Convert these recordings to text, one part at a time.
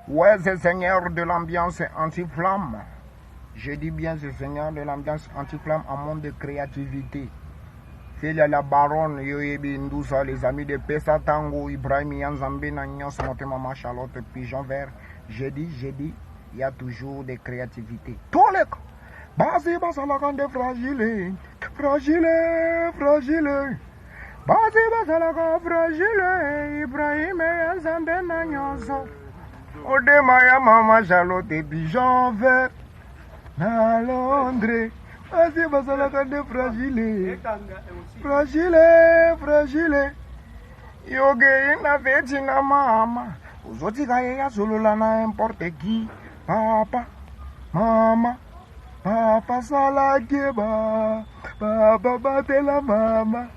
Ouais ze seigneur de l'ambiance anti flamme je dis bien ze seigneur de l'ambiance anti flamme en monde de créativité Celia la baronne yo yebi ndusa les amis de pesa tango Ibrahim ya nzambe na nyonso motema ma Charlotte pigeon vert je dis je dis il y a toujours des créativités toleka basi basalaka nde fragile fragile fragile Basi bazalaka fragile, Ibrahim ya Nzambe na nyonso. Odema ya mama Charlotte Bijon vert na Londres. Basi bazalaka nde fragile, fragile, fragile. Yogei na veti na mama, ozotika ye ya solola na importe qui, papa, mama. Papa sala keba, papa batela mama.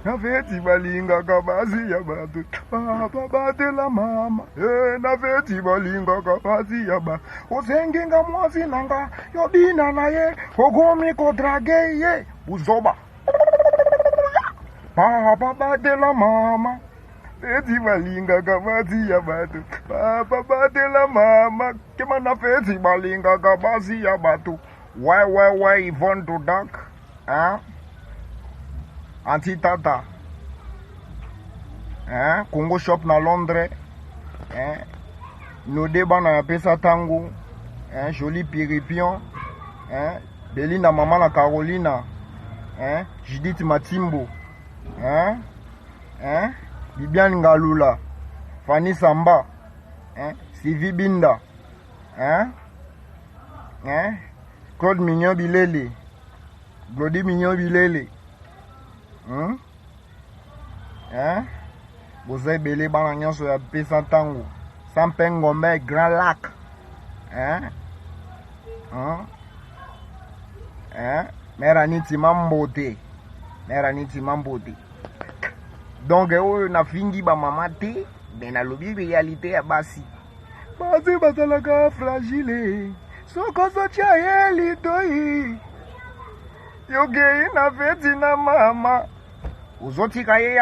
Na feti balingaka basi ya bato, papa batela mama. Eh, na feti balingaka basi ya ba. Osengi nga mwasi na nga, yo bina na ye, okomi kodrage ye, buzoba. Papa batela mama. Feti balingaka basi ya bato papa batela mama kema na feti balingaka basi ya bato why why why Yvonne to dark hein? anti tata hein? Congo shop na Londres hein? node bana ya pesa tango hein? Jolie piripion hein? Belinda mama na Carolina hein? Judith Matimbo hein? hein? Bibiane Ngalula, Fanny Samba, hein? Sylvie Binda, hein? Hein? Claude Mignon Bilele, Glody Mignon Bilele, hein? Hein? boza ebele bana nyonso ya pesa ntango sampe ngombe grand lac hein? Hein? Hein? mera nitima mbote mera nitima mbote donc oyo nafingi bamama te me nalobi realite ya basi basi bazalaka fragile sokozotya ye litoi yokei na feti na mama ozotika ye